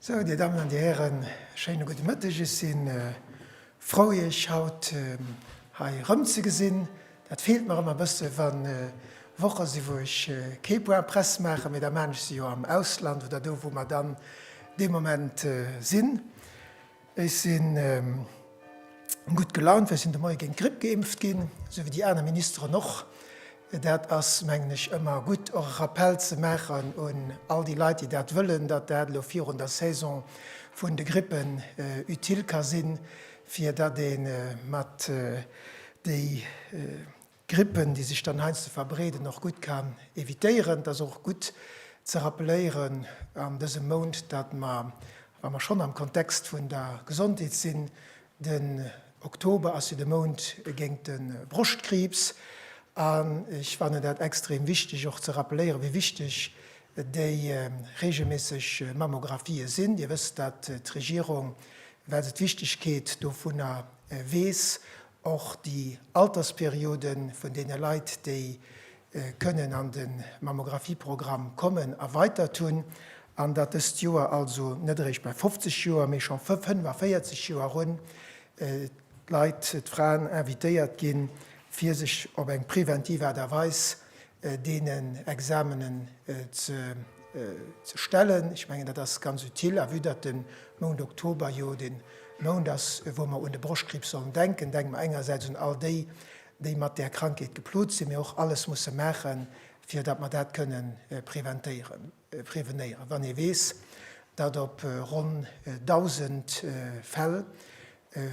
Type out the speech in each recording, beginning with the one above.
Sou, Dir Dammen an Dir Hären, e schéine gudde Mëtteg. Ech si frou, Iech haut hei erëmzegesinn. Dat feelt mer ëmmer e bësse wa Woche sinn, wou ech kee Point presse maachen, mee da maachen ech se jo am Ausland oder do, wou mer dann dee Moment sinn. Ech si gutt gelaunt, well ech sinn de Moie géint d'Gripp geimpft ginn, esou wéi déi aner Ministeren och. Dat ass, mengen ech, ëmmer gutt, och e Rappell ze maachen un all déi Leit, déi dat wëllen, datt dat elo virun der Saison vun de Grippen utile ka sinn, fir datt ee mat déi Grippen, déi sech dann heiansdo verbreeden, och gutt kann evitéieren. Et ass och gutt ze rappeléieren an dësem Mount, datt mer, wa mer schonn am Kontext vun der Gesondheet sinn, den Oktober ass jo de Mount géint de Broschtkriibs an ech fannen dat extrem wichteg och ze rappeléieren, wéi wichteg déi reegelméisseg Mammographië sinn. Dir wësst, datt d'Regierung, well se d'Wichtegkeet dovunner weess, Och déi Altersperiode vun deene Leit, déi kënnen an de Mammographieprogramm kommen, erweitert hunn, an datt dëst Joer also net eréischt bei 50 Joer, mee scho 45 Joer erun d'Leit, d'Fraen invitéiert ginn, fir sech op eng preventiv Aart a Weis deenen Examenen ze stellen. Ech mengen, dat ass ganz utile. A vue datt de Mount Oktober jo de Mount ass, wou mer un de Broschtkriibs sollen denken, denke mer engersäits un all déi, déi mat där Krankheet geplot sinn, mee och alles musse maachen, fir datt mer dat kënnen preventéieren. Prevenéieren. Wann ee weess, datt op ronn 1.000 Fäll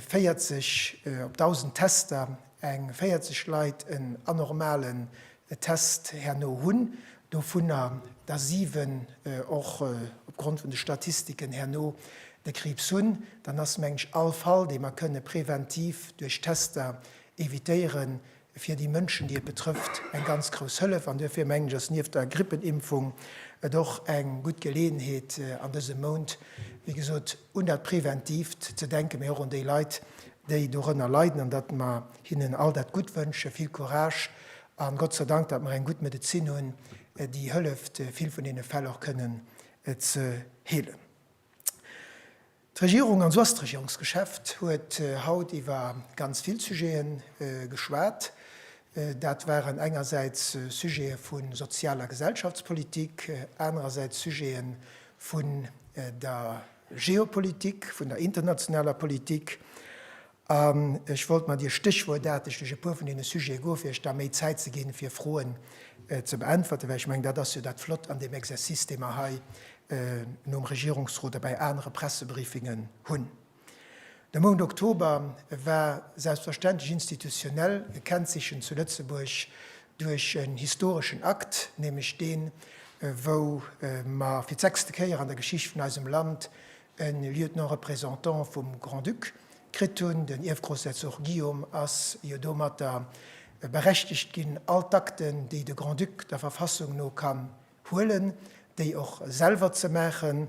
40, op 1.000 Tester eng 40 Leit en anormalen Test herno hunn, dovunner der 7 och opgrond vun de Statistiken herno de Kriibs hunn, dann ass, mengen ech, all Fall, dee mer kënne preventiv duerch Tester evitéieren, fir déi Mënschen, déi et betrëfft, eng ganz grouss Hëllef. An duerfir mengen ech, ass nieft der Grippenimpfung et och eng gutt Geleeënheet an dësem Mount, wéi gesot, un dat Preventiivt ze denken, mee och un déi Leit, déi dorënner leiden, an datt mer hinnen all dat Gutt wënschen, vill Courage a Gott sei Dank, datt mer eng gutt Medezin hunn, déi hëlleft, vill vun deene Fäll och kënnen ze heelen. D'Regierung, an sou ass d'Regierungsgeschäft, huet haut iwwer ganz vill Sujete geschwat. Dat waren engersäits Sujete vu Sozial a Gesellschaftspolitik, anerersäits Sujete vun der Geopolitik, vun der internationaler Politik. Ech wollt mer dir stéchwuertaarteg duerch e puer vun deene Sujete goen, fir iech da méi Zäit ze ginn, fir Froen ze beäntwerten, well ech mengen, dat ass jo dat Flott an deem Exercice, dee mer hei nom Regierungsrot a bei anere Pressebriefingen hunn. De Mount Oktober war selbstverständlech institutionell gekennzeechent zu Lëtzebuerg duerch en historeschen Akt, nämlech deen, wou mer fir d'sechste Kéier an der Geschicht vun eisem Land E Lieutenant-Représentant vum Grand-Duc kritt hunn. Den Ierfgroussherzog Guillaume ass jo domatter berechtegt ginn, all d'Akten, déi de Grand-Duc der Verfassung no kann huelen, déi och selwer ze maachen.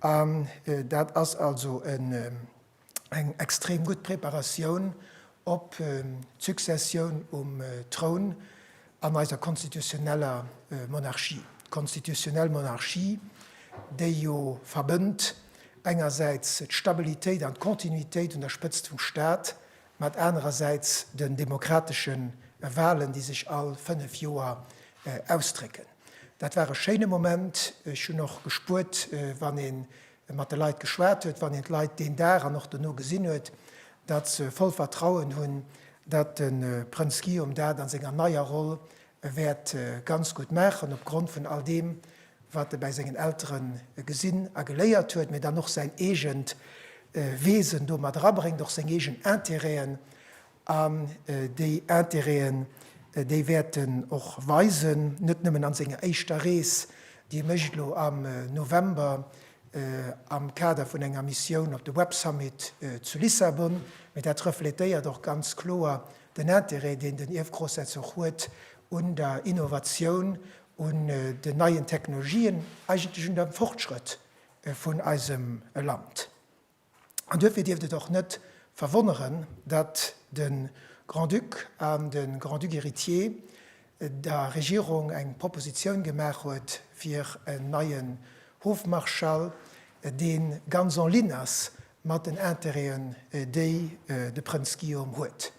An dat ass also eng extrem gutt Preparatioun op d'Successioun um Troun, an eiser konstitutioneller Monarchie, d'konstitutionell Monarchie, déi jo verbënnt engersäits d'Stabilitéit an d'Kontinuitéit un der Spëtzt vum Stat mat anerersäits den demokratesche Wahlen, déi sech all fënnef Joer ausdrécken. Dat war e schéine Moment. Ech hunn och gespuert, wann ee e mat de Leit geschwat huet, wann een d'Leit deen Dag an och dono gesinn huet, datt se voll Vertrauen hunn, datt de Prënz Guillaume dat a senger neier Roll wäert ganz gutt maachen, opgrond vun all deem, wat e bäi sengen Eltere gesinn a geléiert huet, mee dann och säin eegent Wesen do mat erabréngt, och seng eegen Interêten An déi Intérêten, déi wäert en och weisen, net nëmmen an senger éischter Rees, déi e mécht elo am November am Kader vun enger Missioun op de Web Summit zu Lissabon, mä dat reflétéiert och ganz kloer den Intérêt, deen den Ierfgrossherzog huet un der Innovatioun, un den neien Technologien, eigentlech un dem Fortschrëtt vun eisem Land. An duerfir dierft et och net verwonneren, datt de Grand-Duc an de Grand-Duc héritier der Regierung eng Propositioun gemaach huet fir en neien Hofmarschall, dee ganz en ligne ass mat den Intérêten, déi de Prënz Guillaume huet.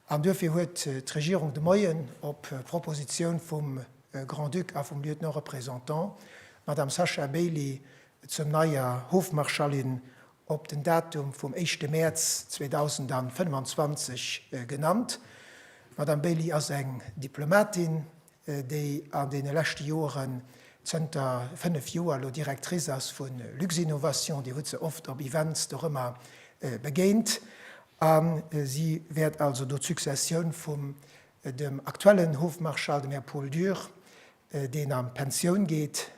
An duerfir huet d'Regierung de Moien op Propositioun vum Grand-Duc a vum Lieutenant-représentant, d'Madame Sacha Bailey, zur neier Hofmarschallin op den Datum vum éischte Mäerz 2025 genannt. D'Madame Bailey ass eng Diplomatin, déi an deene leschte Joren, zënter fënnef Joer elo, Directrice ass vu Luxinnovation. Dir hutt se oft op Events dorëmmer begéint. A si wäert also do d'Successioun vum dem aktuellen Hofmarschall, dem Här Paul Dürr, deen an d'Pensioun geet,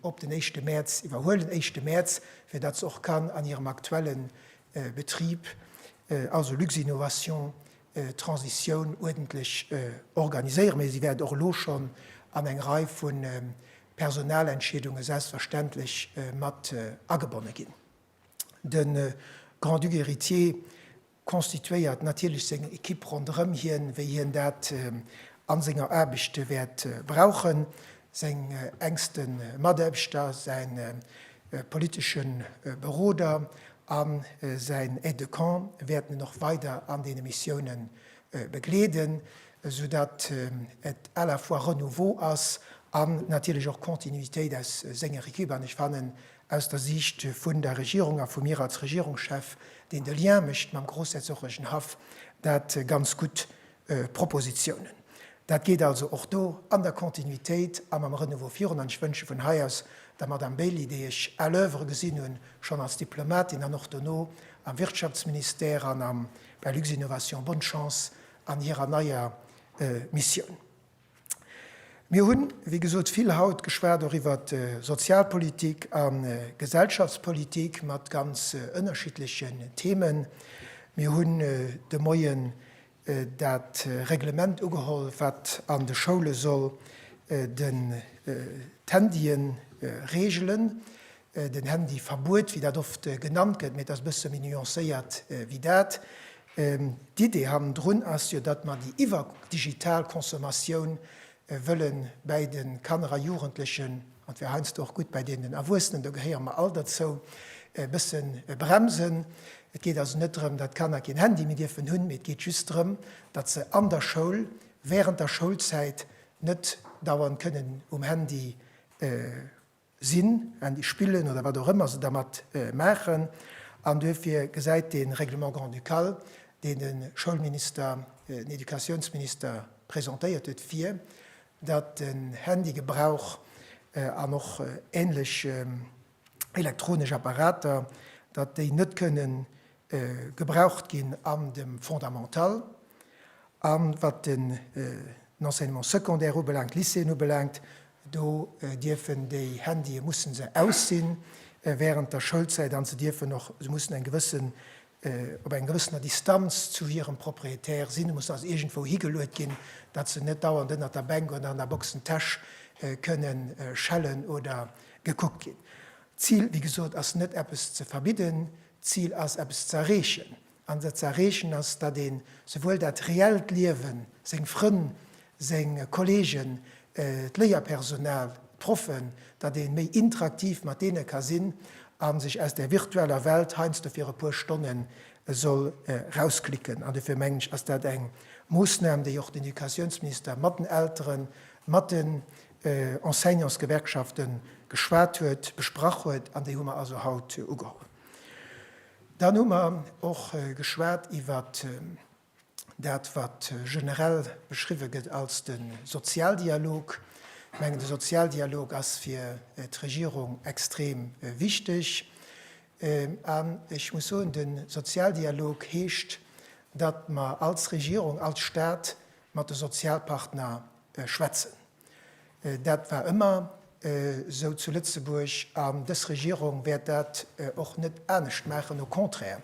op den éischte Mäerz iwwerhuelen, éischte Mäerz, fir datt se och kann an hirem aktuelle Betrib, also Luxinnovation, d'Transitioun uerdentlech organiséieren. Mee si wäert och elo schonn an eng Rei vu Personalentscheedunge selbstverständlech mat agebonne ginn. De Grand-Duc héritier constituéiert natierlech seng Equipe ronderëm hien, wéi hien dat a senger Aarbecht wäert brauchen, seng enkste Mataarbechter, säi politesche Beroder a säin Aide de camp wäerten en och weider an deene Missioune begleeden, sou datt et à la fois Renouveau ass an natierlech och Continuitéit aus senger Equipe. An ech fannen, Aus der Siicht vun der Regierung a vu mir als Regierungschef, deen de Lien mécht mam Groussherzoglechen Haff, dat ganz gutt Propositionen. Dat geet also och do an der Continuitéit a mam Renouveau virun. An ech wënsche vun hei aus der Madame Bailey, déi ech à l'oeuvre gesinn hunn, schonn als Diplomatin an och dono am Wirtschaftsministère an am bei Luxinnovation, bonne Chance an hirer neier Missioun. Mir hunn, wéi gesot, vill haut geschwat och iwwert Sozialpolitik a Gesellschaftspolitik mat ganz ënnerschiddlechen Themen. Mir hunn de Moien dat Reglement ugeholl, wat an de Schoule soll d'Handyen reegelen. Den Handyverbuet, wéi dat oft genannt gëtt, mee et ass e bësse méi nuancéiert wéi dat. D'Idee hannendrun ass jo, datt mer déi iwwerdigital Consommatioun wëlle bäi de Kanner a Jugendlechen, an et wär heiansdo och gutt bäi deenen Erwuessenen, do gehéiere mer all derzou, e bësse bremsen. Et geet also net drëm, datt d'Kanner keen Handy méi dierfen hunn, mee et geet just drëm, datt se an der Schoul, wärend der Schoulzäit net dauernd kënnen um Handy. sinn, Handy spillen oder wat och ëmmer se dermat maachen. An duerfir gesäit dee Règlement grand-ducal, deen de Schoulminister, den Educatiounsminister presentéiert huet, vir, datt de Handygebrauch an och ähnlech elektronesch Apparater, datt déi net kënnen gebraucht ginn an dem Fondamental. A wat den Enseignement secondaire ubelaangt, Lycéeën ubelaangt, do dierfen déi Handye, mussen se aus sinn während der Schoulzäit an se dierfen och, se mussen eng gewëssen, op enger gewëssener Distanz zu hirem Propriétaire sinn, mussen also iergendwou higeluet ginn, datt se net dauernd ënnert der Bänk oder an der Boxentäsch kënne schellen oder gekuckt ginn. D'Zil, wéi gesot, ass net eppes ze verbidden, D'Zil ass, eppes ze erreechen. An dat ze erreechen ass, datt ee souwuel dat reellt Liewen, seng Frënn, seng Kolleegen, d'Léierpersonal, d'Proffen, datt ee méi interaktiv mat deene ka sinn a sech aus där virtueller Welt heiansdo fir e puer Stonne soll rausklicken. An dofir mengen ech, ass dat eng Moossnam, déi och den Educatiounsminister mat den Elteren, mat de Enseignantsgewerkschafte geschwat huet, besprach huet, an déi hu mer also haut ugeholl. Dann hu mer och geschwat iwwer dat, wat generell beschriwwen gëtt als de Sozialdialog. Ech mengen, de Sozialdialog ass fir d'Regierung extrem wichteg. An ech muss soen, de Sozialdialog heescht, datt mer als Regierung, als Stat mat de Sozialpartner schwätzen. Dat war ëmmer esou zu Lëtzebuerg an dës Regierung wäert dat och net anescht maachen. Au contraire,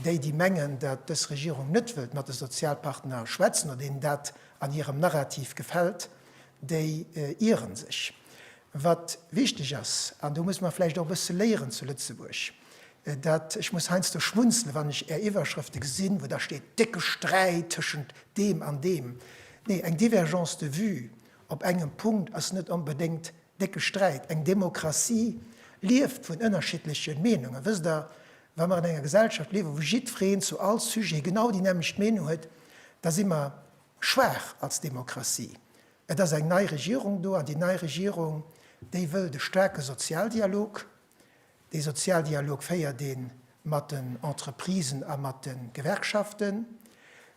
déi, déi mengen, datt dës Regierung net wëllt mat de Sozialpartner schwätzen oder deenen dat an hirem Narrativ gefält, déi ieren sech. Wat wichteg ass, an do muss mer vläicht och e bësse léieren zu Lëtzebuerg, dat, ech muss heiansdo schmunzelen, wann ech Är Iwwerschrëfte gesinn, wou da steet, décke Sträit tëschent deem an deem. Nee, eng Divergence de vue op engem Punkt ass net onbedéngt décke Sträit. Eng Demokratie lieft vun ënnerschiddleche Meenungen. Wësst Der, wa mer an enger Gesellschaft liewen, wou jiddwereen zu all Sujet genau déi nämmlecht Meenung huet, da si mer schwaach als Demokratie. Et ass eng nei Regierung do an déi nei Regierung, déi wëllt e staarke Sozialdialog. Dee Sozialdialog féiert ee mat den Entreprisen a mat de Gewerkschaften.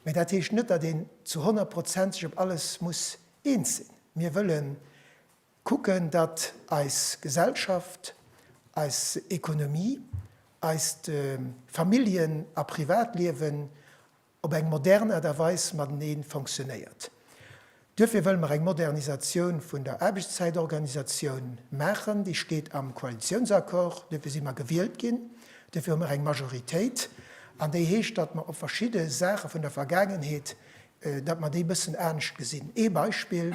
Mee dat heescht net, datt een zu honnert Prozent sech op alles muss eens sinn. Mir wëlle kucken, datt eis Gesellschaft, eis Ekonomie, eist Familljen a Privatliewen op eng modern Aart a Weis matenee fonctionnéiert. Duerfir wëlle mer eng Modernisatioun vun der Aarbechtszäitorganisatioun maachen. Déi steet am Koalitiounsaccord. Duerfir si mer gewielt ginn. Duerfir hu mer eng Majoritéit. An déi heescht, datt mer op verschidde Saache vun der Vergaangenheet, datt mer déi e bëssen anescht gesinn. Ee Beispill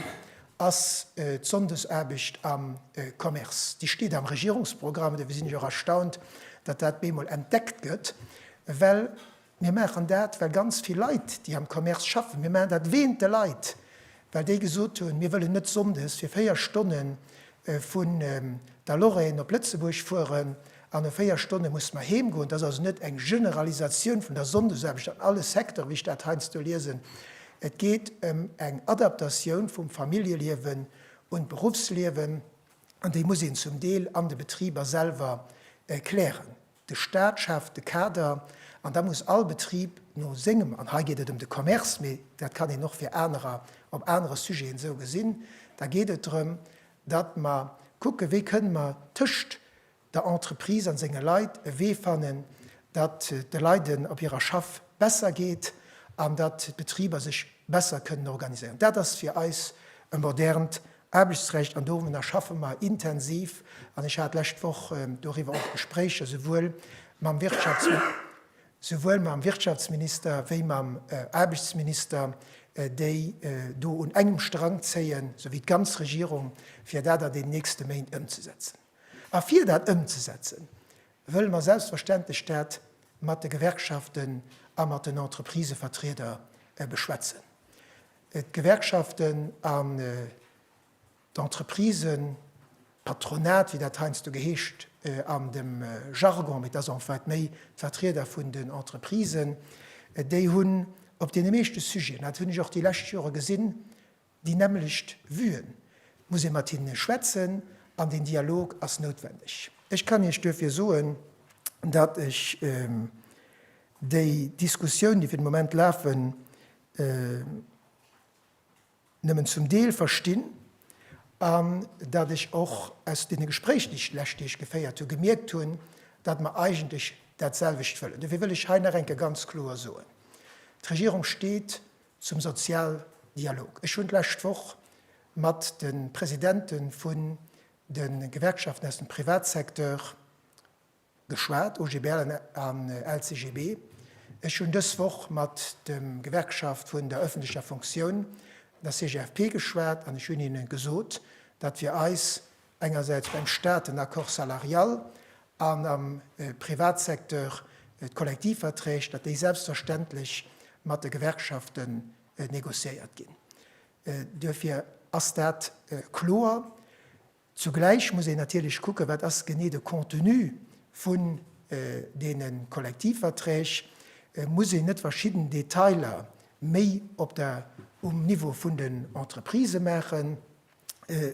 ass d'Sonndesaarbecht am Commerce. Déi steet am Regierungsprogramm. Duerfir sinn ech och erstaunt, datt dat bemol entdeckt gëtt, well Mir maachen dat, well ganz vill Leit, déi am Commerce schaffen, mir maachen dat wéint de Leit, well déi gesot hunn, mir wëllen net sonndes fir véier Stonne vun der Lorraine op Lëtzebuerg fueren an no véier Stonne musse mer heem goen. Dat ass also net eng Generalisatioun vun der Sonndesaarbecht an alle Secteuren, wéi ech dat heiansdo liesen. Et geet ëm eng Adaptatioun vum Familljeliewen un d'Beruffsliewen an déi muss een zum Deel an de Betriber selwer klären. De Staat schaaft de Kader, an da muss all Betrib no sengem, an hei geet et ëm de Commerce, mee dat kann een och fir anerer op anere Sujeten esou gesinn, da geet et drëm, datt mer kucken, wéi kënnen mer tëscht der Entreprise a senge Leit e Wee fannen, datt de Leiden op hirer Schaff besser geet an datt d'Betriber sech besser kënnen organiséieren. Dat ass fir eis e modernt Aarbechtsrecht, an doranner schaffe mer intensiv, an ech hat lescht Woch doriwwer och Gespréicher souwuel mam Wirtschaftsminister wéi mam Aarbechtsminister, déi do un engem Strang zéien, sou wéi d'ganz Regierung, fir dat an den nächste Méint ëmzesetzen. A fir dat ëmzesetzen, wëlle mer selbstverständlech dat mat de Gewerkschaften a mat den Entreprisevertrieder beschwätzen. D'Gewerkschaften an d'Entreprisen, d'Patronat, wéi dat heiansdo geheescht an dem Jargon, mee et ass en fait méi d'Vertrieder vun den Entreprisen, déi hunn op deene meeschte Sujeten, dat hunn ech och déi lescht Jore gesinn, déi nämmlecht Vuen. Et muss ee mat hinne schwätzen an deen Dialog ass noutwendeg. Ech kann Iech duerfir soen, datt ech déi Diskussioun, déi fir de Moment lafen, nëmmen zum Deel verstinn an dat ech och aus deene Gespréichen, déi ech d'lescht Deeg geféiert hu gemierkt hunn, datt mer eigentlech dat selwecht wëllen. Dofir wëll ech hei nach eng Kéier ganz kloer soen, D'Regierung steet zum Sozialdialog. Ech hunn d'lescht Woch mat de Presidente vun de Gewerkschaften aus dem Privatsecteur, Geschwat, OGBL an LCGB. Ech hunn dës Woch mat dem Gewerkschaft vun der ëffentlecher Fonctioun, der CGFP, geschwat an ech hunn hinne gesot, datt fir eis engersäits beim Stat den Accord salarial an am Privatsecteur d'Kollektivverträg, datt déi selbstverständlech mat de Gewerkschafte negociéiert ginn. Duerfir ass dat kloer. Zugläich muss een natierlech kucken, wat ass genee de Contenu vun deene Kollektivverträg. Muss een net verschidden Detailer méi op der, um Niveau vun den Entreprisë maachen?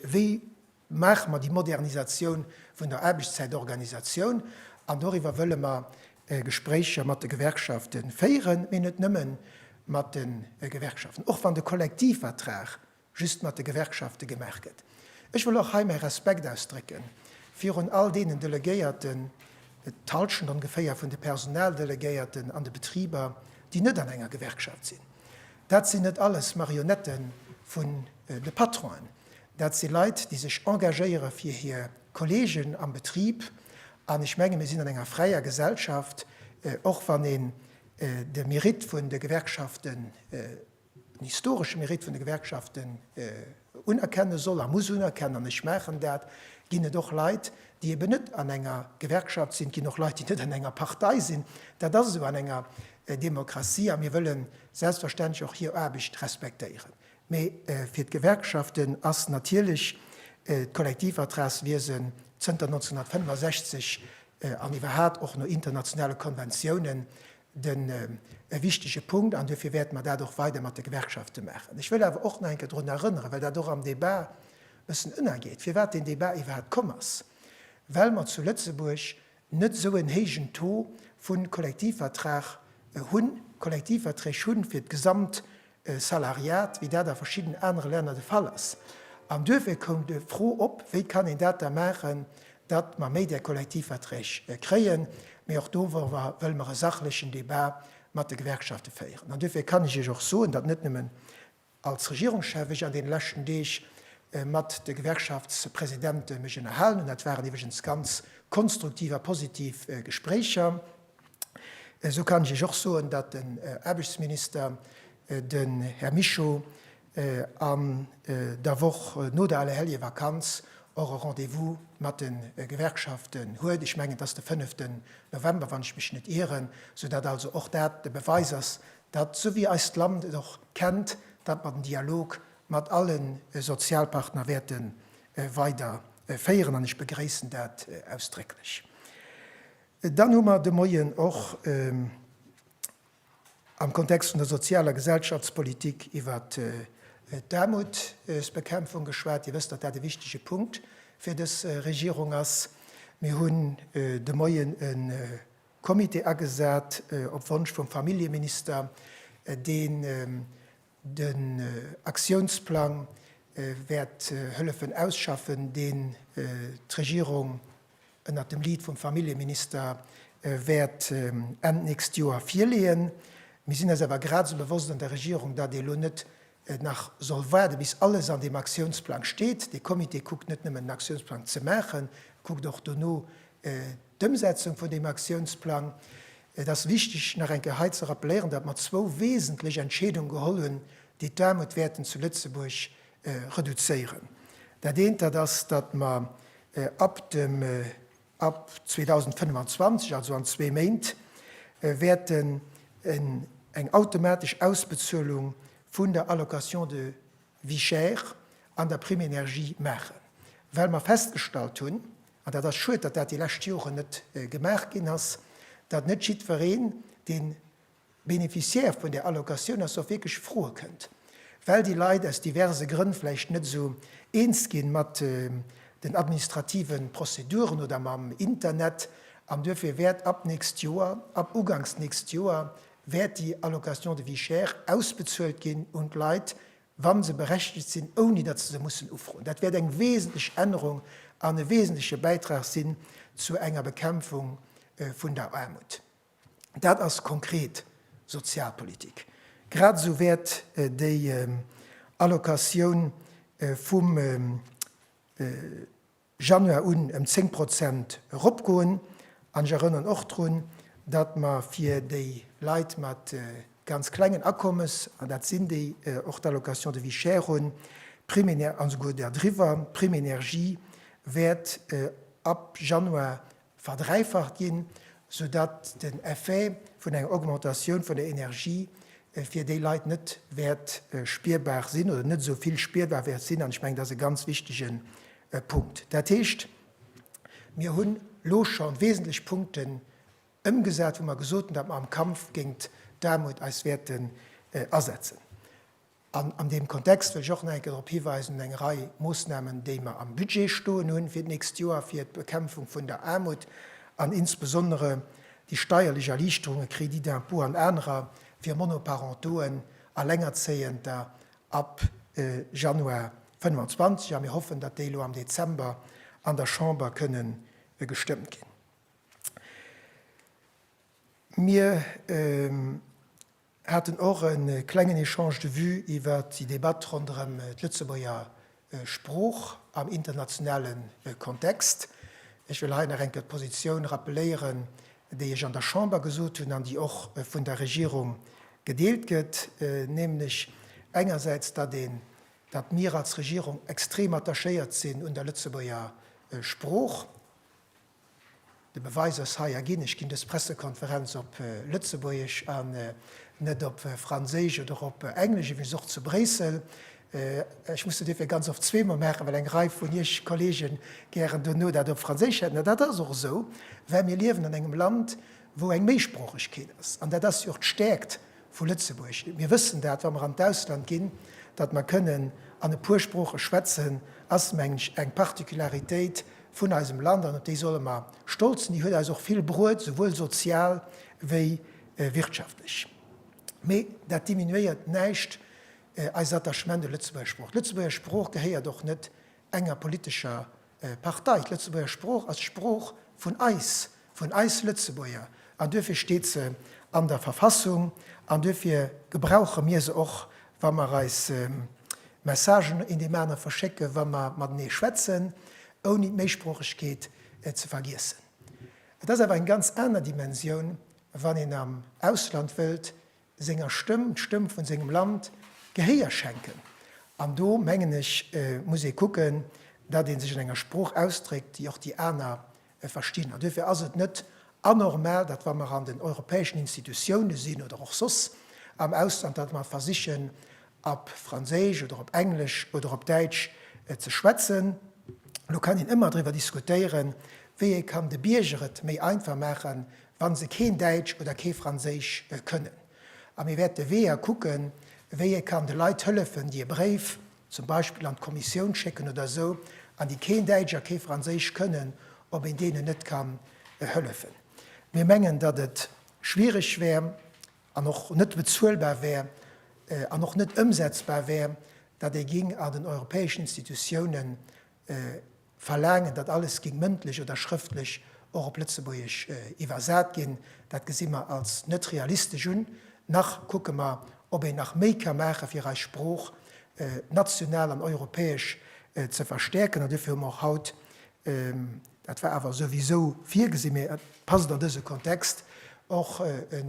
Wéi maache mer déi Modernisatioun vun der Aarbechtszäitorganisatioun? An doriwwer wëlle mer Gespréicher mat de Gewerkschafte féieren, mee net nëmme mat de Gewerkschaften, och wann de Kollektivvertrag just mat de Gewerkschafte gemaach gëtt. Ech wëll och hei mäi Respekt ausdrécke virun all deenen Delegéierten, d'Halschent ongeféier vun de Personaldelegéierten an de Betriber, déi net an enger Gewerkschaft sinn. Dat sinn net alles Marionette vun de Patronen. Dat si Leit, déi sech engagéiere fir hir Kolleegen am Betrib. An ech menge mir sinn an enger fräier Gesellschaft, och wann een de Mérite vun de Gewerkschafte den historesche Mérite vun de Gewerkschaften unerkenne soll a muss unerkennen, an ech maachen dat, ginn et och Leit, déi eben net an enger Gewerkschaft sinn, et ginn och Leit, déi net an enger Partei sinn. Dat ass esou an enger Demokratie a mir wëlle selbstverständlech och hir Aarbecht respektéieren. Mee fir d'Gewerkschaften ass natierlech d'Kollektivvertragswiesen zënter 1965 an iwwerhat och no internationale Konventiounen den e wichtege Punkt an duerfir wäerte mer dat och weider mat de Gewerkschafte maachen. Ech wëll awer och nach eng Kéier drun erënneren, well dat och am Débat e bëssen ënnergeet, firwat deen Débat iwwerhaapt komm ass, well mer zu Lëtzebuerg net esou en héijen Taux vu Kollektivvertrag hunn, Kollektivverträg hunn fir d'gesamt Salariat, wéi dat a verschidden anere Länner de Fall ass. An duerfir koum d'Fro op, Wéi kann een dat da maachen, datt mer méi där Kollektivverträg kréien? Mee och doruewer wëlle mer e sachlechen Debat mat de Gewerkschafte féieren. An duerfir kann ech Iech och soen, datt net nëmmen als Regierungschef ech an deene leschten Deeg mat de Gewerkschaftspresidente mech ënnerhalen hunn, dat waren iwwregens ganz konstruktiv a positiv Gespréicher, Esou kann ech Iech och soen, datt den Aarbechtsminister, den Här Mischo, an der Woch no der Allerhelljevakanz och e Rendez-vous mat de Gewerkschaften huet, ech mengen et ass de fënneften November, wann ech mech net ieren, esou datt also och dat de Beweis ass, datt, esou wéi eist Land et och kennt, datt mer den Dialog mat alle Sozialpartner wäerte weider féieren, an ech begréissen dat ausdrécklech. Dann hu mer de Moien och am Kontext vun der Sozial a Gesellschaftspolitik iwwer d'Aarmutsbekämpfung geschwat. Dir wësst, datt dat e wichtege Punkt fir dës Regierung ass. Mir hunn de Moien e Comité agesat op Wonsch vum Familljeminister, dee Den Aktiounsplang wäert hëllefen ausschaffen, deen d'Regierung ënnert dem Lead vum Familljeminister wäert Enn nächst Joer virleeën. Mir sinn eis awer grad esou bewosst an der Regierung, datt ee lo net nach soll waarde bis alles an deem Aktiounsplang steet. Dee Comité kuckt net nëmmen den Aktiounsplang ze maachen, e kuckt och dono, D'Ëmsetzung vun deem Aktiounsplang, et ass wichteg nach eng Kéier hei ze rappeléieren, datt mer zwou wesentlech Entscheedunge geholl hunn, déi d'Aarmut wäerten zu Lëtzebuerg reduzéieren. Dat eent, dat ass, datt mer ab 2025, also an zwee Méint, wäerten eng automatesch Ausbezuelung vun der Allocation de Vie chère an der Prime énergie maachen, well mer festgestallt hunn, an dat ass schued, datt dat déi lescht Joren net gemaach ginn ass, datt net jiddwereen, dee Bénéficiaire vun där Allocatioun ass, och wierklech froe kënnt, well déi Leit aus diverse Grënn vläicht net esou eens gi mat den administrative Prozeduren oder mam Internet. An duerfir wäert ab nächst Joer, ab ugangs nächst Joer, wäert déi Allocation de vie chère ausbezuelt ginn un d'Leit, wa se berechtigt sinn, ouni datt se se mussen ufroen. Dat wäert eng wesentlech Ännerung an e wesentleche Bäitrag sinn zu enger Bekämpfung vun der Aarmut. Dat ass konkret Sozialpolitik. Grad esou wäert déi Allocatioun vum Januar un ëm 10 Prozent eropgoen. An ech erënnern och drun, datt mer fir déi Leit mat ganz klengen Akommes, an dat sinn déi och d'Allocation de vie chère hunn, Prime, an esouguer derdriwwer, d'Prime énergie wäert ab Januar verdräifacht ginn, sou datt den Effet vun enger Augmentatioun vun der Energie fir déi Leit net wäert spierbar sinn oder net esou vill spierbar wäert sinn. An ech mengen, dat ass e ganz wichtige Punkt. Dat heescht, mir hunn elo scho wesentlech Punkten ëmgesat, wou mer gesot hunn, datt mer am Kampf géint d'Aarmut eis wäerten asetzen. An an deem Kontext wëll ech och nach eng Kéier drop hiweisen, un eng Rei Moosnamen, déi mer am Budget stoen hu fir d'nächst Joer, fir d'Bekämpfung vun der Aarmut an insbesondere déi steierlech Erliichterungen, Crédit d'impôt an anerer, fir Monoparentoen, Allengerzéiender, ab Januar 2025. A mir hoffen, datt déi elo am Dezember an der Chamber kënne gestëmmt ginn. Mir. haten och e klengen Echange de vues iwwert déi Debatt ronderëm d'Lëtzebuerger Sprooch am internationale Kontext. Ech wëll hei nach eng Kéier d'Positioun rappeléieren, déi ech an der Chamber gesot hunn an déi och vun der Regierung gedeelt gëtt, nämlech engersäits, datt een, datt mir als Regierung extrem attachéiert sinn un der Lëtzebuerger Sprooch, De Beweis ass hei a ginn, ech ginn dës Pressekonferenz op Lëtzebuergesch an net op Franséisch oder op Englesch, iwwregens och zu Bréissel. Ech muss se duerfir ganz oft zweemol maachen, well eng Rei vun Iech Kolleegen gären dono dat op Franséisch hätten. An dat ass och esou, well mir liewen an engem Land, wou eng Méisproochegkeet ass. An dat ass jo och d'Stäerkt Vu Lëtzebuerg. Mir wëssen dat, wa mer an d'Ausland ginn, datt mer kënnen an e puer Sprooche schwätzen, ass, mengen ech, eng Particularitéit vun eisem Land an op déi solle mer stolz sinn. Déi huet eis och vill bruet, souwuel sozial wéi wirtschaftlech. Mee dat diminuéiert näischt eist Attachement un d'Lëtzebuerger Sprooch. D'Lëtzebuerger Sprooch gehéiert och net enger politescher Partei, d'Lëtzebuerger Sprooch ass d'Sprooch vun eis, vun eis Lëtzebuerger, an duerfir steet se an der Verfassung, an duerfir gebrauche mir se och, wa mer eis Messagen een deem anere verschécken, wa mer matenee schwätzen, ouni d'Méisproochegkeet ze vergiessen. Et ass awer eng ganz aner Dimensioun, wann een am Ausland wëllt senger Stëmm, d'Stëmm vun sengem Land Gehéier schenken. An do mengen ech muss ee kucken, datt ee sech an enger Sprooch ausdréckt, déi och déi aner verstinn. An duerfir ass et net anormal, datt wa mer an den europäeschen Institutioune sinn oder och soss am Ausland, datt mer versichen op Franséisch oder op Englesch oder op Däitsch ze schwätzen. Lo kann een ëmmer driwwer diskutéieren, wéi ee kann de Bierger et méi einfach maachen, wa se keen Däitsch oder kee Franséisch kënnen. A mir wäerte Weeër kucken, wéi ee kann de Leit hëllefen, déi e Bréif zum Beispill an d'Kommissioun schécken oder esou, an déi keen Däitsch a kee Franséisch kënnen, ob een deenen net kann hëllefen. Mir mengen, datt et schwierig wär an och net bezuelbar wär an och net ëmsetzbar wär, datt ee géing an den europäeschen Institutiounen, Verlaangen, datt alles géing mëndlech oder schrëftlech och op Lëtzebuergesch iwwersat ginn, dat gesi mer als net realistesch un. Nach kucke mer, ob een nach méi ka maache fir eis Sprooch national an europäesch ze verstäerken. An duerfir hu mer och haut, dat war awer souwisou virgesi, mee et passt an dëse Kontext, och e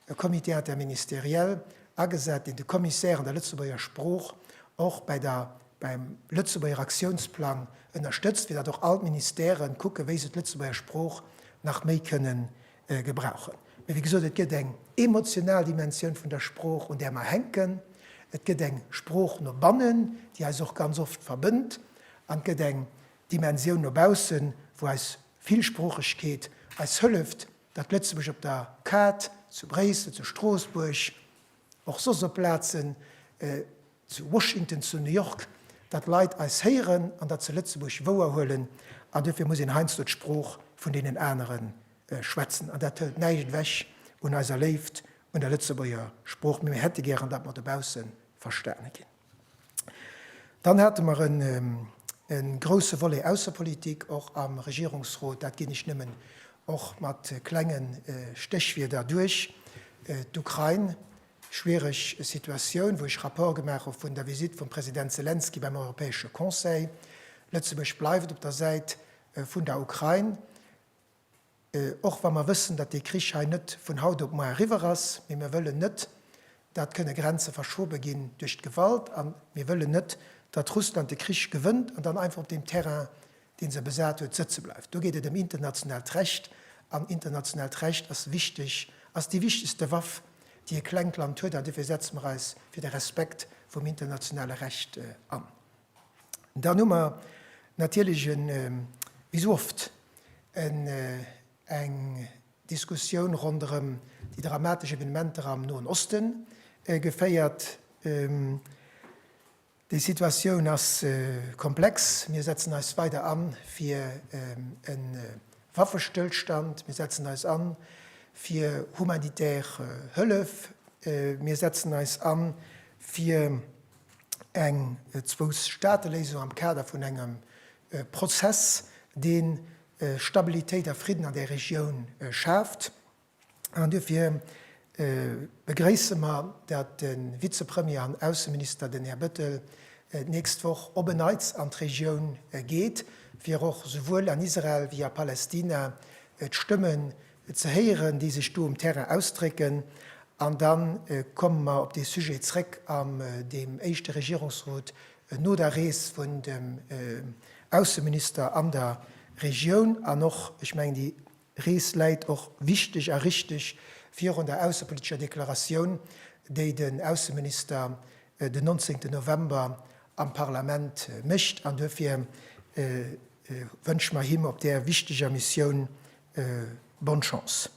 E Comité interministériel agesat, deen de Commissaire an der Lëtzebuerger Sprooch och bei der, beim Lëtzebuerger Aktiounsplang ënnerstëtzt, fir datt och all d'Ministèren kucken, wéi se d'Lëtzebuerger Sprooch nach méi kënnen gebrauchen. Mee wéi gesot, et gëtt eng emotional Dimensioun vun der Sprooch, un där mer hänken. Et gëtt eng Sprooch no bannen, déi eis och ganz oft verbënnt, an et gëtt eng Dimensioun no baussen, wou eis Villsproochegkeet eis hëlleft, Datt Lëtzebuerg op der Kaart, zu Bréissel, zu Stroossbuerg, och soss op Plazen, zu Washington, zu New York, datt Leit eis héieren an datt se Lëtzebuerg wouer huelen. An dofir muss een heiansdo d'Sprooch vun deenen anere schwätzen. An dat hëlt näischt ewech un eiser Léift un der Lëtzebuerger Sprooch, mee mir hätte gären, datt mer dobausse verstane ginn. Dann hate mer e grouse Volet Aussepolitik och am Regierungsrot. Dat ginn ech nëmmen och mat klenge Stéchwierder duerch, d'Ukrain, schwiereg Situatioun, wou ech Rapport gemaach hu vun der Visite vum President Selenskyj beim Europäesche Conseil. Lëtzebuerg bleift op der Säit vun der Ukrain. Och wa mer wëssen, datt dee Krich hei net vun haut op muar eriwwer ass, mee mir wëllen net, datt kënne Grenze verschobe ginn duerch d'Gewalt, a mir wëllen net, datt Russland de Krich gewënnt an dann einfach op deem Terrain, dee se besat huet, sëtze bleift. Do geet et ëm internationaalt Recht, an internationaalt Recht ass wichteg, ass déi wichtegste Waff, déi e klengt Land huet, an dofir setze mer eis fir de Respekt vum internationale Recht an. Dann hu mer natierlech en, wéi esou oft, en, eng Diskussioun ronderëm déi dramatesch Evenementer am Noen Oste geféiert. Déi Situatioun ass komplex. Mir setzen eis weider an fir e Waffestëllstand. Mir setzen eis an fir humanitär Hëllef. Mir setzen eis an fir eng Zwou-Staate-Léisung am Kader vun engem Prozess, dee Stabilitéit a Fridden an där Regioun schaaft. An duerfir begréisse mer, datt de Vizepremier an Ausseminister, den Här Bettel, d'nächst Woch op en Neits an d'Regioun geet, fir och souwuel an Israel wéi a Palästina d'Stëmme ze héieren, déi sech do um Terrain ausdrécken, an da komme mer op dee Sujet zrëck am deem éischte Regierungsrot no der Rees vun dem Ausseminister an der Regioun. An och, ech mengen, déi Rees läit och wichteg a richtig virun der aussepolitescher Deklaratioun, déi den Ausseminister den 19 November am Parlament mécht. An duerfir wënsche mer him op där wichteger Missioun Bonne chance!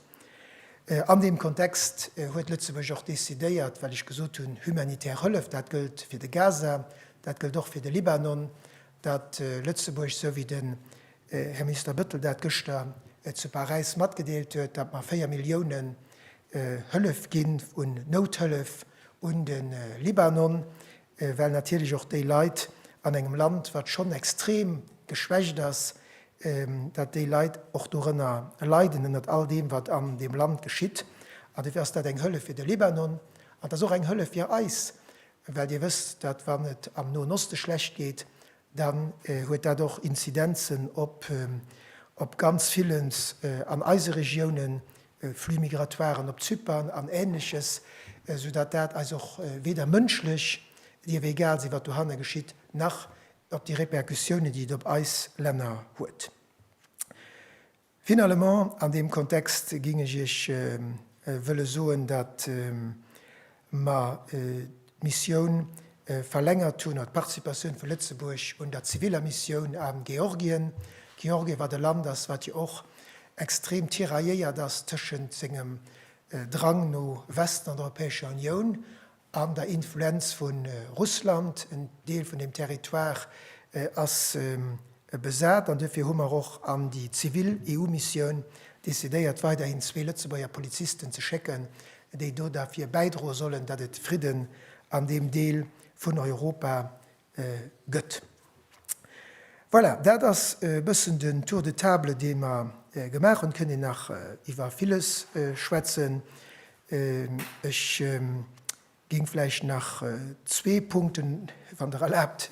An deem Kontext huet Lëtzebuerg och decidéiert, well ech gesot hunn, humanitär Hëllef, dat gëllt fir de Gaza, dat gëllt och fir de Libanon, datt Lëtzebuerg, esou wéi den Här Minister Bettel dat gëschter zu Paräis matgedeelt huet, datt mer 4 Milliounen Hëllef ginn un Nouthëllef un de Libanon. well natierlech och déi Leit an engem Land, wat schonn extrem geschwächt ass, dat déi Leit och dorënner leiden, ënnert all deem, wat an deem Land geschitt. An dofir ass dat eng Hëllef fir de Libanon an et ass och eng Hëllef fir eis, well Dir wësst, datt wann et am Noen Oste schlecht geet, dann huet dat och Inzidenzen op ganz villens an eise Regiounen, Flux migratoiren op Zypern an Ähnleches, soudatt dat eis och weder mënschlech, dir ewéi egal sinn, wat dohanne geschitt, nach op déi Répercussiounen, déi et op eis Länner huet. Finalement, an deem Kontext géing ech Iech wëlle soen, datt mer d'Missioun verlängert hunn, oder d'Participatioun vu Lëtzebuerg un der ziviller Missioun a Georgien. Georgien, wat e Land ass, wat jo och extrem tirailléiert ass tëschent sengem Drang no Westen an der Europäescher Unioun an der Influenz vu Russland. En Deel vun deem Territoire ass besat an duerfir hu mer och an déi zivil EU-Missioun decidéiert, weiderhin zwee Lëtzebuerger Polizisten ze schécken, déi do derfir bäidroe sollen, datt et Fridden an deem Deel vun Europa gëtt. Voilà, dat ass e bëssen den Tour de table, dee mer gemaach hunn. Et kënnt een nach iwwer villes schwätzen. Ech géing vläicht nach zwee Punkten, wann Der erlaabt,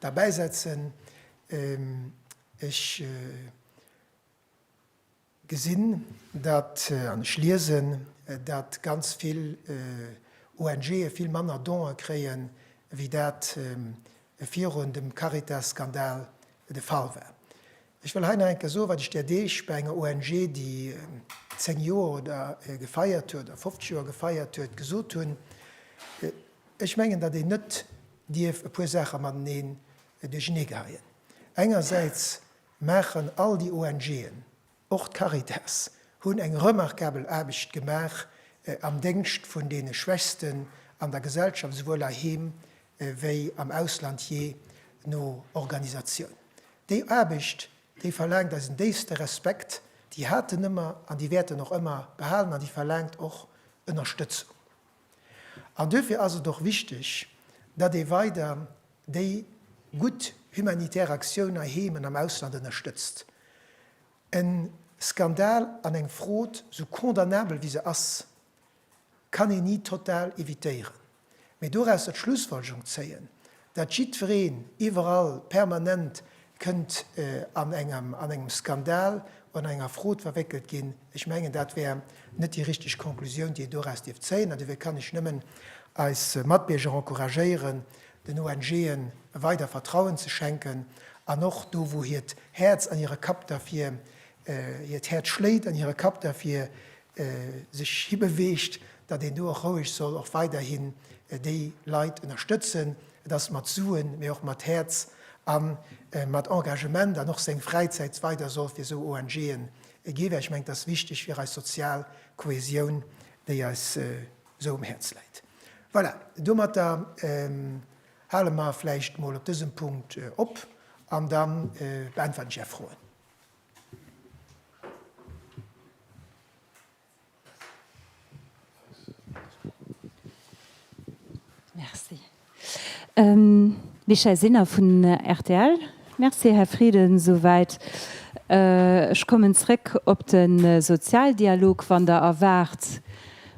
derbäisetzen. Ech. gesinn dat, an ech liesen dat, ganz vill ONGe vill manner Donë kréie wéi dat virun dem Caritas-Skandal de Fall war. Ech wëll hei nach eng Kéier soen, wat ech där Deeg bei enger ONG, déi 10 Joer oder gefeiert huet, oder 50 Joer gefeiert huet, gesot hunn, Ech mengen, datt een net dierf e puer Saache mateneen duercheneegeheien. Engersäits maachen all déi ONG'en, och d'Caritas, hunn eng remarkabel Aarbecht gemaach am Déngscht vun deene Schwächsten an der Gesellschaft, esouwuel heiheem wéi am Ausland, jee no Organisatioun. Déi Aarbecht, déi verlaangt eisen déifste Respekt, déi haten ëmmer an déi wäerten och ëmmer behalen an déi verlaangt och Ënnerstëtzung. An duerfir ass et och wichteg, datt ee weider déi gutt humanitär Aktioun hei heem an am Ausland ënnerstëtzt. E Skandal an eng Frod, sou condamnabel wéi se ass, kann een ni total evitéieren. Mee doraus der Schlussfolgerung zéien, Datt jiddwereen iwwerall permanent kënnt an engem Skandal oder an enger Frod verwéckelt ginn, ech mengen, dat wär net déi richteg Conclusioun, déi een doraus dierf zéien. An dofir kann ech nëmmen eis Matbierger encouragéieren, den ONGen weider Vertrauen ze schenken an och do, wou hiert Häerz an hire Kapp derfir, hiert Häerz schléit an hire Kapp derfir, sech hibeweegt, datt een do och roueg soll och weiderhin déi Leit ënnerstëtzen. Et ass mat Suen, mee och mat Häerz a mat Engagement an och seng Fräizäit weider soll fir esou ONGen gi, well ech mengen, et ass wichteg fir eis sozial Kohäsioun, déi eis esou um Häerz läit. Voilà, domatter hale mer vläicht mol op dësem Punkt op an da beäntweren ech Är Froen. Michèle Sinner vun rtl. Merci Här Frieden, esouwäit. Ech kommen zréck op de Sozialdialog, wann Der erwaart,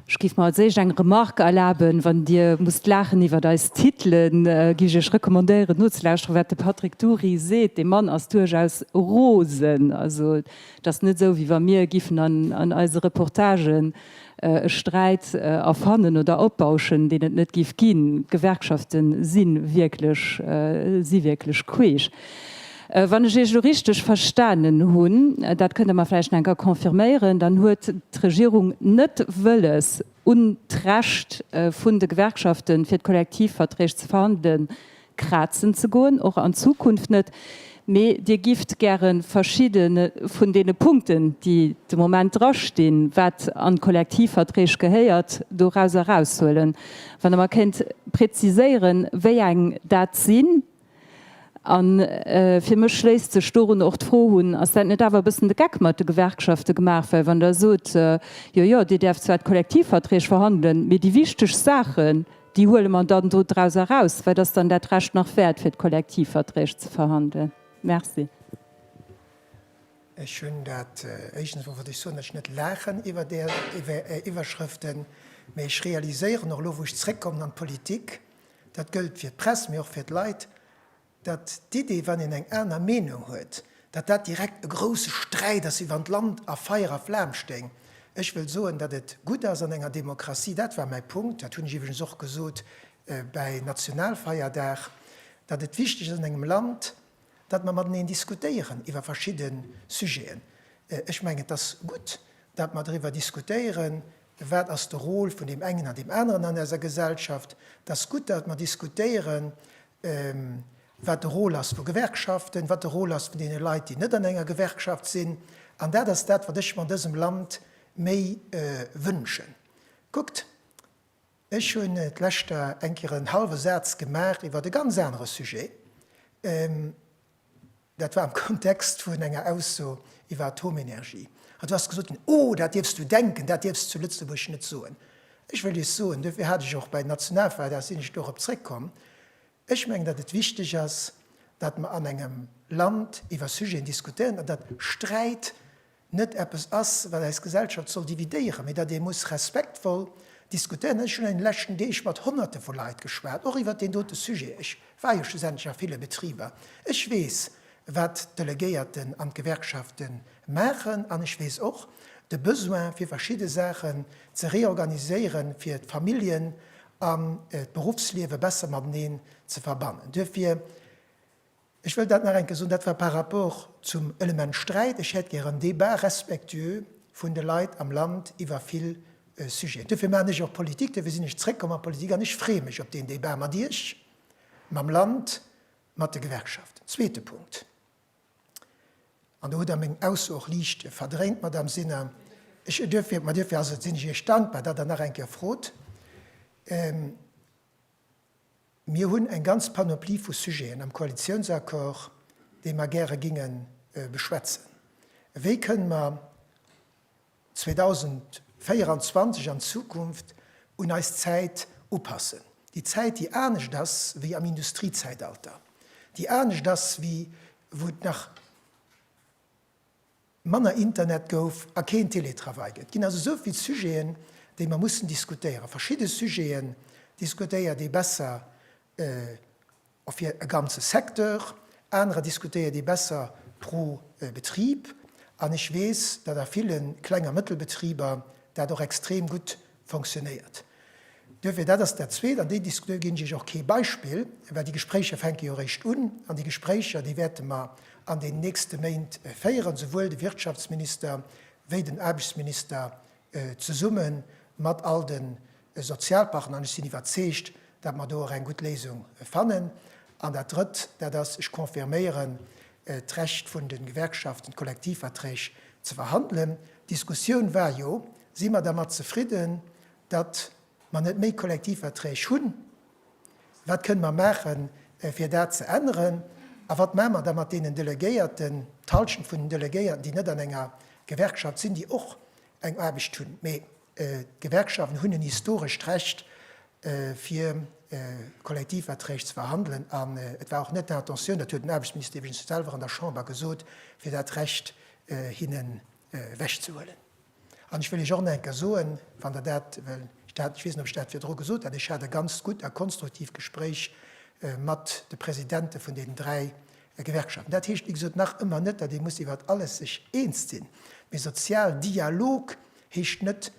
Ech géif mer als éischt eng Remarque erlaben, Wann Dir musst laachen iwwert eis Titelen, géif ech Iech recommandéieren nozelauschteren, wat de Patrick Dury seet. Dee Mann ass duerchaus rosen. Also, et ass net esou, wéi wa mir giffen an eise Reportagen e Sträit erfannen oder opbauschen, deen et net géif ginn. D'Gewerkschafte si wierklech, si wierklech queesch. Wann ech Iech elo richteg verstanen hunn, dat kënnt Der mer vläicht nach eng Kéier confirméieren, dann huet d'Regierung net wëlles, un d'Recht vun de Gewerkschaften, fir d'Kollektivverträg ze verhandelen, krazen ze goen, och an Zukunft net, mee Dir gifft gäre verschiddene vun deene Punkten, déi de Moment drastinn, wat an d'Kollektivverträg gehéiert, dorauser eraushuelen. Wann Der mer kéint präziséieren, wéi eng dat sinn, An fir mech schléisst sech dorun och d'Fro un, Ass dat net awer e bëssen de Geck mat de Gewerkschafte gemaach? Well wann Der sot, Jo, jo, Dir däerft zwar d'Kollektivverträg verhandelen, mee déi wichtegst Saachen, déi huele mer dann do draus eraus, wat ass dann dat Recht nach wäert, fir d'Kollektivverträg ze verhandelen? Merci. Ech hunn dat, éischtens emol wollt ech soen, datt ech net laachen iwwer där Iwwerschrëften, mee ech realiséieren och elo, wou ech zréckkommen an d'Politik, Dat gëllt fir d'Press, mee och fir d'Leit, datt d'Idee, wann een eng aner Meenung huet, datt dat direkt e grousse Sträit ass, iwwer d'Land a Feier a Flam stéing. Ech wëll soen, datt et gutt ass an enger Demokratie, dat war mäi Punkt, dat hunn ech iwwregens och gesot bäi Nationalfeierdag, datt et wichteg ass an engem Land, datt mer mateneen diskutéieren iwwer verschidde Sujeten. Ech mengen, et ass gutt, datt mer driwwer diskutéieren, Wat ass de Rôle vun deem engen an deem aneren an eiser Gesellschaft? Et ass gutt, datt mer diskutéieren, wat de Rôle ass vu Gewerkschaften, wat de Rôle ass vun deene Leit, déi net an enger Gewerkschaft sinn. An dat ass dat, wat ech mer an dësem Land méi wënschen. Kuckt, ech hunn d'lescht Jar eng Kéier en hallwe Saz gemaach iwwert e ganz anere Sujet. Dat war am Kontext vun enger Ausso iwwer Atomenergie. An du has gesot ginn, Oh, dat dierfs du denken, dat dierfs zu Lëtzebuerg net soen. Ech wëll Iech soen, duerfir hat ech och bei den Nationalfeierdag, da sinn ech dorop zréckkomm, ech mengen, datt et wichteg ass, datt mer an engem Land iwwer Sujeten diskutéieren an datt Sträit net eppes ass, wat eis Gesellschaft soll dividéieren, mee datt ee muss respektvoll diskutéieren. Ech hunn an de leschten Deeg mat Honnerte vu Leit geschwat, och iwwert deen dote Sujet. Ech war jo schlussendlech a ville Betriber. Ech weess, wat d'Delegéierten an d'Gewerkschafte maachen an ech weess och de Besoin, fir verschidde Saachen ze reorganiséieren, fir d'Familljen an d'Beruffsliewe besser mateneen ze verbannen. Duerfir. Ech wëll dat nach eng Kéier soen, dat war par rapport zum Element Sträit. Ech hätt gär en Débat respectueux vun de Leit am Land iwwer vill Sujeten. Duerfir maachen ech och Politik, duerfir sinn ech zréckkomm an d'Politik an ech freeë mech op deen Débat mat Iech, mam Land, mat de Gewerkschaften. Zweete Punkt, an do hutt Der meng Ausso och liicht verdréint, Madame Sinner, ech, duerfir, ma duerfir ass et, sinn ech Iech dankbar, datt Der nach eng Kéier frot. Mir hunn eng ganz Panoplie vu Sujeten am Koalitiounsaccord, déi mer gäre géinge beschwätzen. Wéi kënnen mer 2024 an Zukunft un eis Zäit upassen, déi Zäit, déi anescht ass wéi am Industriezäitalter, déi anescht ass wéi wou et nach, manner Internet gouf a keen Télétravail gëtt. Et ginn also esou vill Sujeten, déi mer mussen diskutéieren. Verschidde Sujeten diskutéiert ee besser fir e ganze Secteur, anerer diskutéiert ee besser pro Betrib. An ech weess, datt a ville Kleng a Mëttelbetriber dat och extrem gutt Fonctionnéiert. Duerfir, dat ass dat Zweet, an déi Dis, do ginn ech Iech och kee Beispill, well déi Gespréicher fänke jo eréischt un. An déi Gespréicher, déi wäerte mer an den nächste Méint féieren, souwuel de Wirtschaftsminister wéi den Aarbechtsminister zesumme mat all de Sozialpartner. An ech sinn iwwerzeegt, dat mer do och eng gutt Léisung fannen. An dat Drëtt, dat ass, ech confirméieren, d'Recht vun de Gewerkschaften, d'Kollektivverträg ze verhandelen. D'Diskussioun war jo, Si mer dermat zefridden, datt mer net méi Kollektivverträg hunn? Wat kënne mer maachen, fir dat ze änneren? A wat maache mer da mat deenen Delegéierten, d'Hallschent vun den Delegéierten, déi net an enger Gewerkschaft sinn, déi och eng Aarbecht hunn? Mee D'Gewerkschaften hunn en historescht Recht, fir Kollektivverträg ze verhandelen, an et war och net d'Intentioun, dat huet den Aarbechtsminister iwwregens selwer an der Chamber gesot, fir dat Recht hinnen ewechzehuelen. An ech wëll Iech och nach eng Kéier soen, wann Der dat, well ech dat, ech weess net, ob ech dat virdru gesot hat, ech hat e ganzt gutt a konstruktivt Gespréich mat de Presidente vun deenen dräi Gewerkschaften. Dat heescht, wéi gesot, nach ëmmer net, datt ee muss iwwert alles sech eens sinn, mee Sozialdialog Heescht net,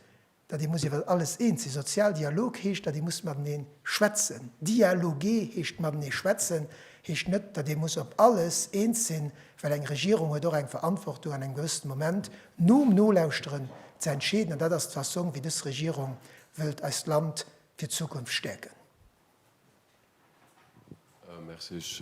datt ee muss iwwer alles eens sinn. Sozial Dialog heescht, datt ee muss matenee schwätzen. Dialoguer heescht matenee schwätzen, heescht net, datt ee muss op alles eens sinn, well eng Regierung huet och eng Verantwortung an engem gewëssene Moment, nom Nolauschteren, ze entscheeden. An dat ass d'Fassong, wéi dës Regierung wëllt eist Land fir d'Zukunft stäerken. Merci. Ech,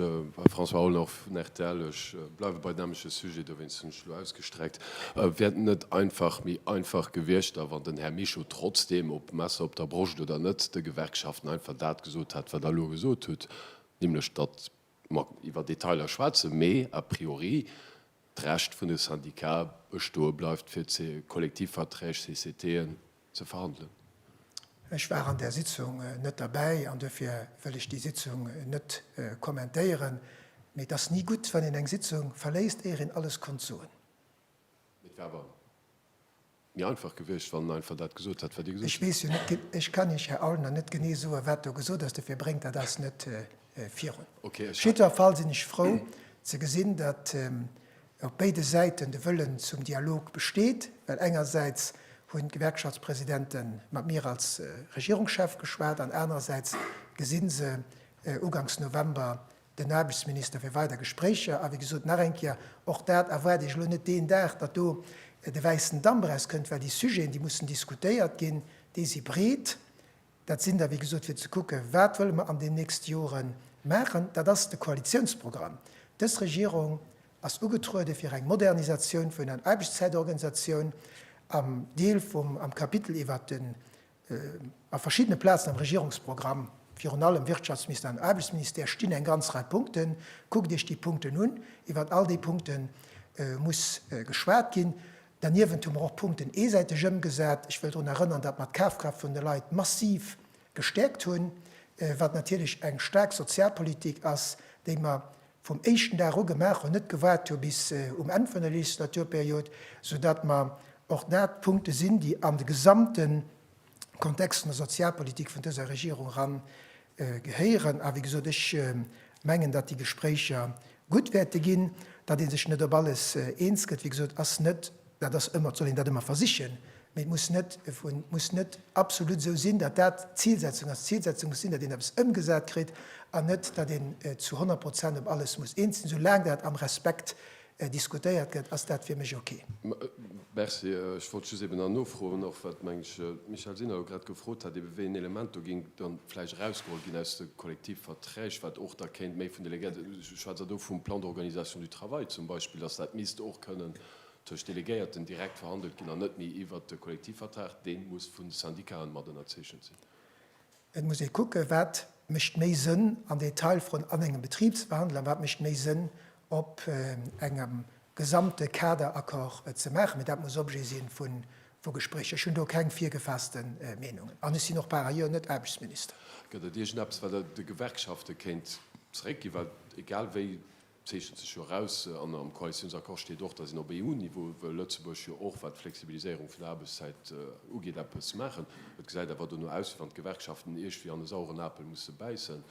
François Aulner vun rtl, ech bleiwe bei deem nämmleche Sujet, dowéinst hunn ech elo ausgestreckt. Wär et net einfach méi einfach gewiescht, da wann den Här Mischo trotzdeem, ob Messer op der Broscht oder net, de Gewerkschaften einfach dat gesot hätt, wat Der elo gesot hutt, nämlech datt mer iwwer Detailer schwätzen, mee a priori d'Recht vun de Syndicate bestoe bleift, fir d'Kollektivverträg, CCTen, ze verhandelen. Ech war an där Sitzung net derbäi an duerfir wëll ech déi Sitzung net kommentéieren. Mee et ass ni gutt, wann een eng Sitzung verléisst, éier een alles konnt soen. Mee et war awer méi einfach gewiescht, wann en einfach dat gesot hätt, wat Dir gesot Ech hutt. weess jo net, ge ech kann Iech, Här Aulner, net genee soen, wat do gesot ass, dofir bréngt dat eis net virun. Okay, Op ech hat. jiddwer Fall sinn ech frou ze gesinn, datt op béide Säiten de Wëllen zum Dialog besteet, well engersäits hunn d'Gewerkschaftspresidente mat mir als Regierungschef geschwat an anerersäits gesi se ugangs November Den Aarbechtsminister fir weider Gespréicher. A wéi gesot, nach eng Kéier, och dat erwaart Iech elo net deen Dag, datt do de wäissen Damp erauskënnt, well déi Sujeten, déi mussen diskutéiert ginn, déi si breet. Dat sinn der, wéi gesot, fir ze kucke wat wëlle mer an den nächste Jore maachen. Dat ass de Koalitiounsprogramm. Dës Regierung ass ugetruede fir eng Modernisatioun vun der Aarbechtszäitorganisatioun am Deel vum, am Kapitel iwwert den A verschiddene Plazen am Regierungsprogramm, virun allem Wirtschaftsministère an Aarbechtsministère, stinn eng ganz Rei Punkten. Kuckt Iech déi Punkten un. Iwwert all déi Punkte muss geschwat ginn. Derniewent hu mer och Punkten eesäiteg ëmgesat. Ech wëll drun erënnern, datt mer d'Kafkraaft vun de Leit massiv gestäerkt hunn, wat natierlech eng staark Sozialpolitik ass, déi mer vum éischten Dag u gemaach hunn, net gewaart hu bis um Enn vun der Legislaturperiod, sou datt mer och dat Punkte sinn, déi an de gesamte Kontext vun der Sozialpolitik vun dëser Regierung era gehéieren. A wéi gesot, ech mengen, datt déi Gespréicher gutt wäerte ginn. Datt ee sech net op alles eens gëtt, wéi gesot, ass net Dat ass ëmmer, et soll een dat ëmmer versichen, mee et muss net, et muss net absolut esou sinn, datt dat d'Zilsetzung ass. D'Zilsetzung muss sinn, datt een eppes ëmgesat kritt an net, datt een zu honnert Prozent op alles muss eens sinn. Soulaang dat am Respekt diskutéiert gëtt, ass dat fir mech ok. Merci. Ech wollt just eben nach nofroen, och wat, meng ech, d'Michèle Sinner jo grad gefrot hat, ebe wéi een Element do géing da vläicht erausgeholl ginn aus de Kollektivverträg, wat och da kéint méi vun Delegéierte, ech schwätz elo vum Plan d'organisation du travail zum Beispill, datt dat misst och kënnen tëscht Delegéierten direkt verhandelt ginn an net méi iwwert de Kollektivvertrag, dee muss vu Syndikaen mat ënnerzeechent sinn. Et muss ee kucken, wat mécht méi Sënn am Detail vrun an engem Betribswandel a wat mécht méi Sënn op engem gesamte Kaderaccord et ze maachen, mee dat muss Objet si vu Gespréicher. Ech hunn do keng virgefaasste Meenungen an ech sinn och par ailleurs net Aarbechtsminister. Gëtt et iergendeppes, wat Der de Gewerkschafte kéint zeréckginn? Well egal wéi Et zeechent sech jo eraus, an am Koalitiounsaccord steet och, datt een op EU-Niveau wëll Lëtzebuerg jo och, wat d'Flexibiliséierung vun der Aarbechtszäit ugeet, eppes maachen. Et gesäit awer dono aus, wéi wann d'Gewerkschaften Iech wéi an e saueren Apel musse bäissen,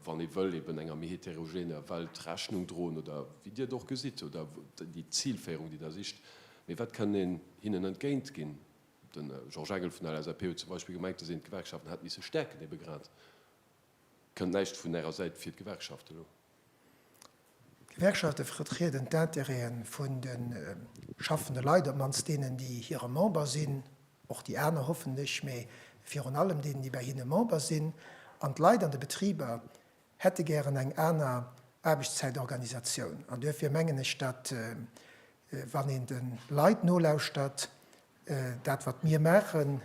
wann ee wëll eben enger méi heterogener Welt Rechnung droen, oder wéi Dir et och gesitt, oder déi Zilféierung, déi Der sicht. Mee wat kënn een hinnen entgéint ginn? De Georges Engel vun der LSAP huet zum Beispill gemengt, dass een d'Gewerkschaften hätt misse stäerken. Ebe grad kënnt näischt vun Ärer Säit fir d'Gewerkschaften elo. D'Gewerkschafte vertrieden d'Intérêten vun de schaffende Leit, op d'mannst deenen, déi hire Member sinn, och déi aner hoffentlech, mee virun allem deenen, déi bei hinne Member sinn. An d'Leit an de Betriber hätte gären eng aner Aarbechtszäitorganisatioun. An duerfir mengen ech, datt, wann een de Leit nolauschtert, Dat wat mir maachen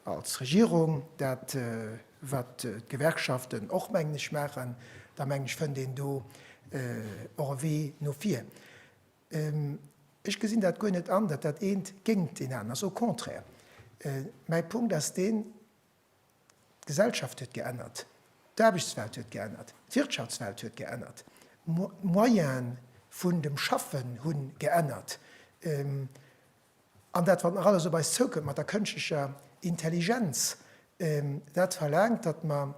als Regierung, dat wat d'Gewerkschaften och mengen ech maachen, da mengen ech fënnt een do och e Wee no vir. Ech gesinn dat guer net an, datt dat eent géingt deen aneren ass, au contraire. Mäi Punkt ass deen, D'Gesellschaft huet geännert, d'Aarbechtswelt huet geännert, d'Wirtschaftswelt huet geännert, d'Moyene vun dem Schaffen hu geännert. An dat, wat nach alles op eis zoukënnt mat der kënschtlecher Intelligenz, dat verlaangt, datt mer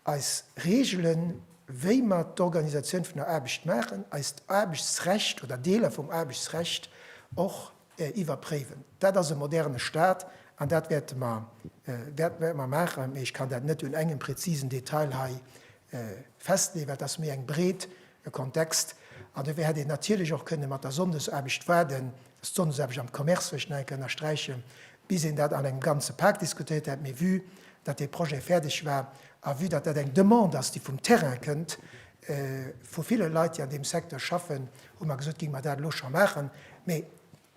eis Reegelen, wéi mer d'Organisatioun vun der Aarbecht maachen, eist Aarbechtsrecht oder Deeler vum Aarbechtsrecht och iwwerpréiwen. Dat ass e moderne Stat an dat wäerte mer, dat wäerte mer maachen. Mee ech kann dat net un engem präzisen Detail hei festleeën, well et ass méi eng breet E Kontext, an dofir hätt een natierlech och kënne mat der Sonndesaarbecht waarden, dass d'Sonndesaarbecht am Commerce, wëll ech nach eng Kéier ënnersträichen, bis een dat an engem ganze Pak diskutéiert hätt, mee vue datt dee Projet fäerdeg war a vue datt dat eng Demande ass, déi vum Terrain kënnt, vu ville Leit, déi an deem Secteur schaffen, hu mer gesot, géing mer dat elo scho maachen. Mee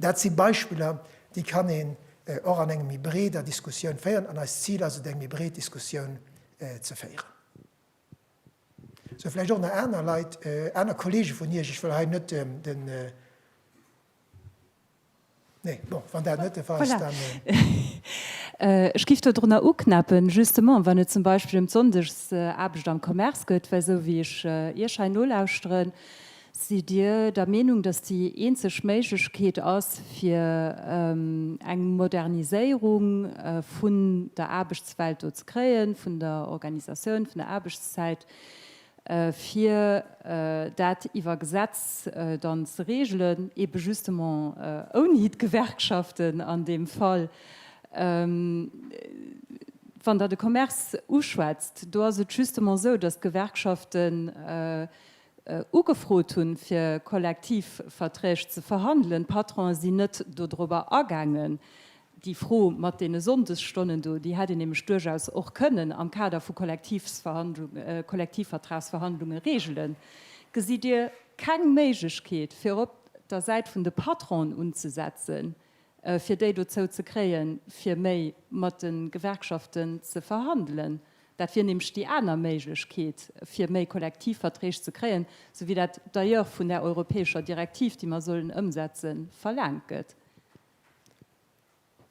dat si Beispiller, déi kann een och an engem méi breeder Diskussioun féieren, an eist Zil ass et, eng méi breet Diskussioun ze féieren. Sou vläicht och nach aner Leit, aner Kollege vun Iech. Ech wëll hei net den, nee, bon, wann dat net de Fall ass, dann. Ech géif dodrunner uknäppen, justement, wann et zum Beispill ëm d'Sonndegs-aarbecht am Commerce geet, well esou wéi ech Iech hei nolauschteren, Sidd Dir der Meenung, datt déi eenzeg Méiglechkeet ass, fir eng Moderniséierung vun der Aarbechtswelt do ze kréien, vun der Organisatioun vun der Aarbechtszäit, fir dat iwwer Gesetz dann ze regelen, eebe justement ouni d'Gewerkschaften an deem Fall? Wann Der de Commerce uschwätzt, do ass et justement esou, datt d'Gewerkschaften, ugefrot hunn, fir Kollektivverträg ze verhandelen. D'Patronen sinn net dodrober agaangen. Déi Fro mat deene Sonndesstonnen do, déi hätt een nämlech duerchaus och kënnen am Kader vu Kollektivvertragsverhandlunge reegelen. Gesitt Dir keng Méiglechkeet, fir op der Säit vun de Patronen unzesetzen, fir déi dozou ze kréien, fir méi mat de Gewerkschaften ze verhandelen? Dat wier nämlech déi aner Méiglechkeet, fir méi Kollektivverträg ze kréien, sou wéi dat d'ailleurs vun där europäescher Direktiv, déi mer sollen ëmsetzen, verlaangt gëtt.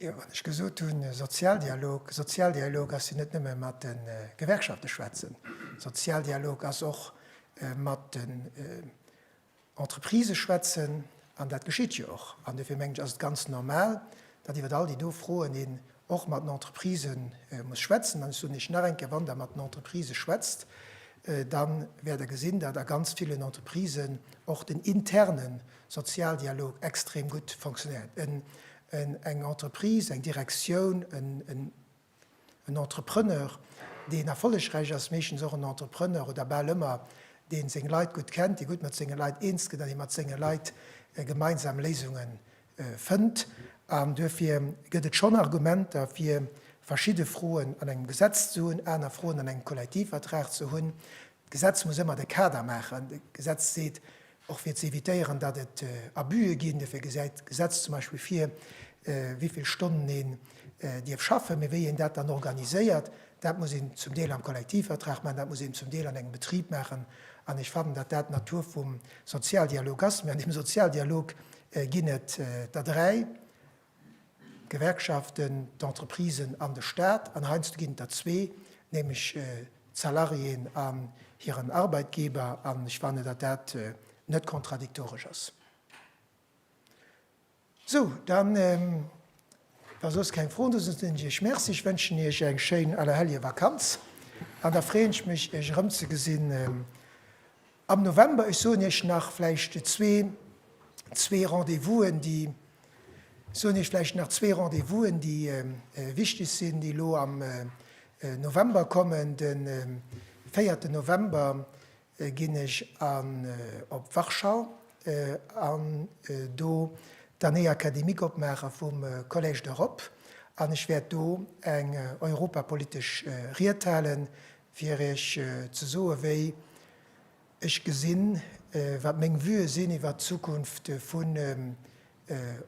Jo, wann ech gesot hunn Sozialdialog, Sozialdialog ass jo net nëmme mat de Gewerkschafte schwätzen. Sozialdialog ass och mat de Entreprisë schwätzen, an dat geschitt jo och. An dofir mengen ech, ass et ganz normal, datt iwwer all déi do Froen een och mat den Entreprisë muss schwätzen. An ech soen Iech nach eng Kéier, Wann Der mat den Entreprisë schwätzt, da wäert Der gesinn, datt a ganz villen Entreprisen och den interne Sozialdialog extrem gutt fonctionéiert. Eng Entreprise, eng Direktioun, en En Entrepreneur, deen erfollegräich ass, meeschtens och en Entrepreneur oder bal ëmmer, dee seng Leit gutt kennt, dee gutt mat senge Leit eens gëtt an dee mat senge Leit gemeinsam Léisunge fënnt. An duerfir gëtt et schonn Argumenter, fir verschidde Froen an engem Gesetz ze hunn, aner Froen an engem Kollektivvertrag ze hunn. D'Gesetz muss ëmmer de Kader maachen. D'Gesetz seet, Och fir ze evitéieren, datt et Abuse ginn. Dofir gesäit d'Gesetz zum Beispill vir, wéi vill Stonnen een dierf schaffen. Mee wéi een dat dann organiséiert, dat muss een zum Deel am Kollektivvertrag maachen, dat muss een zum Deel an engem Betrib maachen. An ech fannen, datt dat d'Natur vum Sozialdialog ass. Mee an deem Sozialdialog ginn et der dräi. D'Gewerkschaften, d'Entreprisen an de Staat, an heiansdo ginn et der zwee, nämlech d'Salariéen an hiren Arbeitgeber, an ech fannen, datt dat net kontradiktoresch ass. Sou, dann, wa soss keng Froen do sinn, soen ech Iech Merci. Ech wënschen Iech eng schéin Allerhelljevakanz an da freeën ech mech, Iech erëmzegesinn. Am November, ech soen Iech nach vläicht zwee, zwee Rendez-vousen, déi, soen Iech vläicht nach zwee Rendez-vousen, déi wichteg sinn, déi elo am November kommen. De véierten November ginn ech op Warschau an do d'Année académique opmaache vum Collège d'Europe an ech wäert do eng europapolitesch Ried halen, fir Iech ze soen, wéi ech gesinn, wat meng Vuë sinn iwwert d'Zukunft vun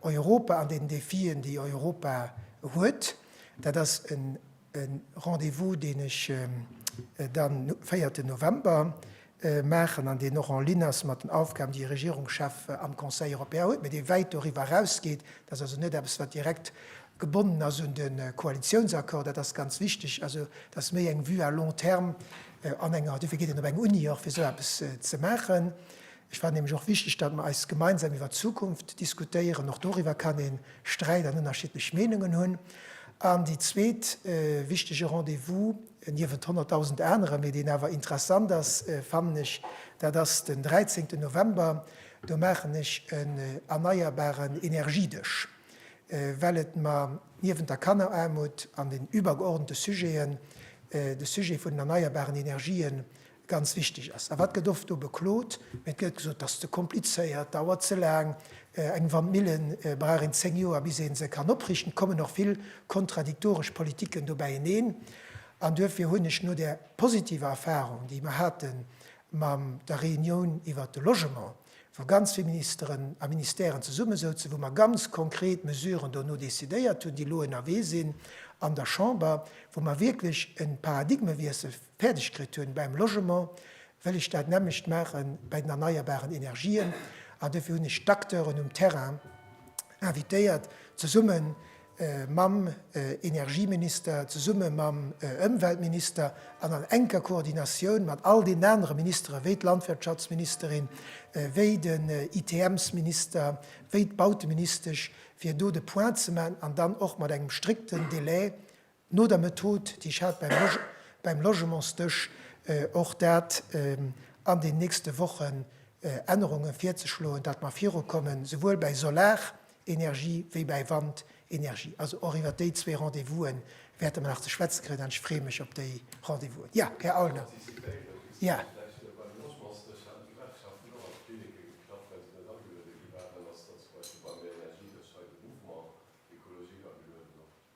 Europa an den Defien, déi Europa huet. Dat ass e Rendez-vous, deen ech dann, 4. November, maachen an deen och en ligne ass mat den Aufgaben, déi e Regierungschef am Conseil européen huet, mä dee wäit doriwwer erausgeet. Dat ass also net eppes, wat direkt gebonnen ass un de Koalitionsaccord. Dat ass ganz wichtig. Also, dat ass méi eng Vue à long terme an enger, dofir geet een op eng Uni och, fir esou eppes ze maachen. Ech fand nämlech och wichtig, datt mer eis gemeinsam iwwert d'Zukunft diskutéieren. Och doriwwer kann ee Sträit an ënnerschiedlech Meinungen hunn. An déi zweet wichtige Rendez-vous, Niewent honnertdausend anere, mee deen awer interessant ass, fannen ech, dat ass den dräizéngten November, do maachen ech en erneierbaren Energiedësch, well et mer niewent der Kanneraarmut an den iwwergeordnete Sujeten de Sujet vun den erneierbaren Energien ganz wichteg ass. A wat gëtt oft do beklot? Et gëtt gesot, dat ass ze komplizéiert, dauert ze laang, eng Wandmille brauch een zéng Joer, bis ee se kann oprichten. Et kommen och vill kontradiktoresch Politicken do bäieneen. An duerfir hunn ech no där positiver Erfahrung, déi mer hate mam der Reunioun iwwert de Logement, wou ganz vill Ministeren a Ministèren zesummesouzen, wou mer ganz konkret Mesuren dono décidéiert hunn, déi elo ënnerwee sinn an der Chamber, wou mer wierklech e Paradigmewiessel fäerdeg kritt hunn beim Logement, wëll ech dat nämmlecht maache bei den erneierbaren Energien. An dofir hunn ech d'Acteuren um Terrain invitéiert, zesumme mam Energieminister, zesumme mam Ëmweltminister an an enker Koordinatioun mat all deenen anere Ministeren, wéi d'Landwirtschaftsministerin, wéi den ITMs-Minister, wéi d'Bauteministesch, fir do de Point ze maachen an dann och mat engem strikten Délai No der Method, déi ech hat beim Logementsdësch, och dat an den nächste Wochen Ännerunge virzeschloen, datt mer virukommen, souwuel bäi Solarenergie wéi bäi Wandenergie. Also och iwwert déi zwee Rendez-vousen wäerte mer nach ze schwätze kréien an ech freeë mech op déi Rendez-vousen. Jo, Här Aulner.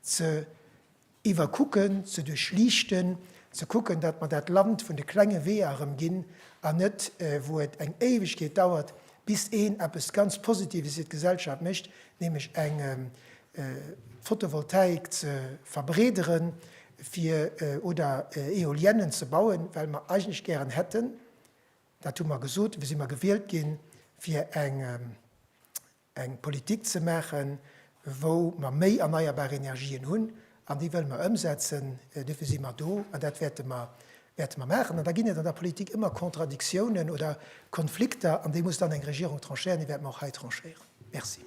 ze iwwerkucken, ze duerchliichten, ze kucken, datt mer dat Land vun de klenge Weeër erëm ginn an net, wou et eng Éiwegkeet dauert, bis een eppes ganz Positives fir d'Gesellschaft mécht, nämlech eng Fotovoltaik ze verbreederen fir oder Eoliennen ze bauen, well mer eigentlech gären hätten, dat hu mer gesot, si mer gewielt ginn, fir eng. eng Politik ze maachen, wou mer méi erneierbar Energien hunn, an déi wëlle mer ëmsetzen. Dofir si mer do an dat wäerte mer wäerte mer maachen. An da ginn et an der Politik ëmmer Kontradiktiounen oder Konflikter, an déi muss dann eng Regierung tranchéieren. Déi wäert mer och hei tranchéieren. Merci.